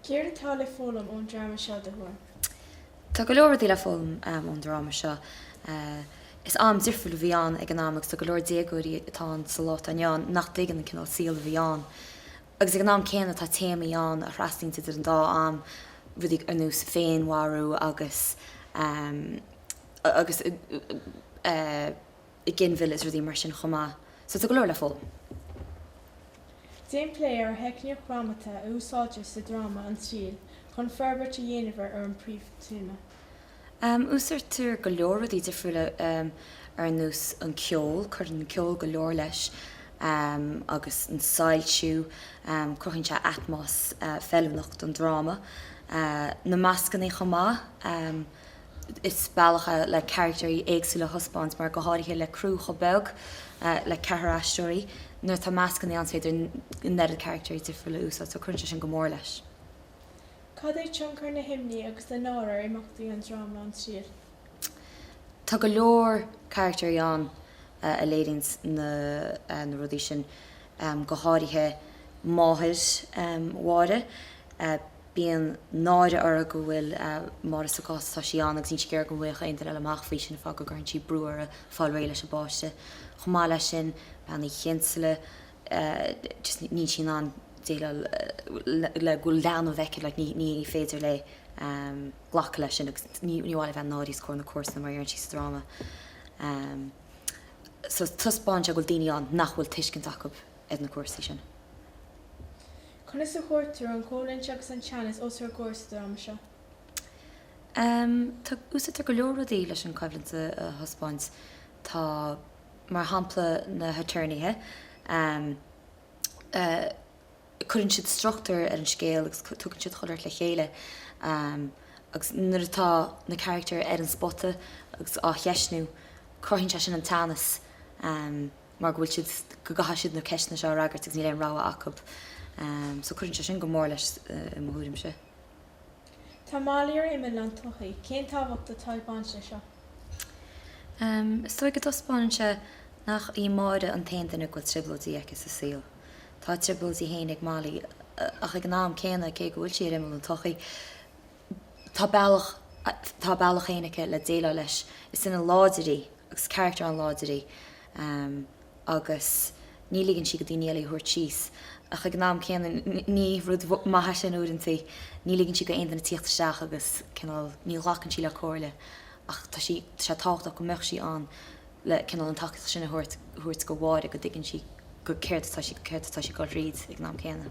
Céard atá le foghlaim ón dráma seo, i do thuairim? Tá go leor rudaí le foghlaim ón dráma seo. Is am difriúil a bhí ann ag an am agus tá go leor déagóirí atá ann sa lá atá inniu ann nach dtuigeann an cineál saol a bhí ann. Agus ag an am céanna tá téamaí ann a thrasnaíonns idir an dá am, rudaí ar nós féinmharú agus. i ginmhilleadh is rudaí mar sin chomh maith. So tá go leor le foghlaim. Déan plé ar theicníocht dhrámata a úsáidtear sa dráma An Triail chun forbairt a dhéanamh ar an bpríomhthéama. Úsáidtear go leor rudaí difriúla ar nós an ceol, cuireann an ceol go leor leis agus an soilsiú, cruthaíonn sé atmos feiliúnach don dráma. Na mascannaí chomh maith. is bealach é le carachtairí éagsúla a thaispeáint mar, go háirithe le criú chomh beag le ceathrar aisteoirí, nuair atá mascannaí ann is féidir an oiread carachtairí difriúla a úsáid so cuireann sé sin go mór leis. Cad é tionchar na himní agus na náire ar imeachtaí an dráma An Triail? Tá go leor carachtairí ann a léiríonns na rudaí sin, go háirithe máthair Mháire. Bíonn náire uirthi go bhfuil Máire sa gcás atá sí ann agus níl sí ag iarraidh go bhfaighfeadh aon duine eile amach faoi sin, fá go gcuireann sí brú uirthi fáil réidh leis an bpáiste. Chomh maith leis sin, Bean Uí Chinsealaigh, just níl sí in ann déileáil le go bhfuil leanbh aici, like ní féidir léi glacadh leis sin agus ní maith léi a bheith náirithe os comhair na comharsana mar a deireann sí sa dráma. So taispeánann sé go bhfuil daoine ann nach bhfuil tuiscint acu ar na cúrsaí sin. Conas a chuirtear an choimhlint agus an teannas os ár gcomhair sa dráma seo? Em, tá, úsáidtear go leor rudaí leis an choimhlint a thaispeáint. Tá, mar shampla, na haturnaethe, em, eh, cuireann siad struchtúr ar an scéal agus tugann siad chuile shórt le chéile, em, agus nuair atá na carachtair ar an spota agus á gceistniú, cruthaíonn sé sin an teannas, em, mar go bhfuil siad, go gcaithfidh siad na ceisteanna seo a fhreagairt agus níl aon rogha acu. So cuireann sé sin go mór leis i mo thuairimse. Tá Mailí ar imeall an tsochaí? Cén tábhacht atá ag baint leis seo? Is dóigh go dtaispeánann sé nach í Máire an t-aon duine go bhfuil trioblóidí aici sa saol. Tá a trioblóidí fhéin ag Mailí ach ag an am céanna cé go bhfuil sí ar imeall an tsochaí, Tá bealach, tá a bealach féin aici le déileáil leis. Is duine láidir í agus carachtar an-láidir í agus ní ligeann sí do dhaoine eile í a thabhairt síos ach ag an am céanna ní rud maith é sin uaireantaí. Ní ligeann sí do aon duine tíocht isteach agus cineál ní ghlacann sí le comhairle ach tá sí, tá sé tábhachtach go mbeadh sí ann. le cineál an tacaíocht sin a thabhairt, thabhairt do Mháire go dtuigeann sí go, céard atá sí, céard atá sí ag dul thríd ag an am céanna.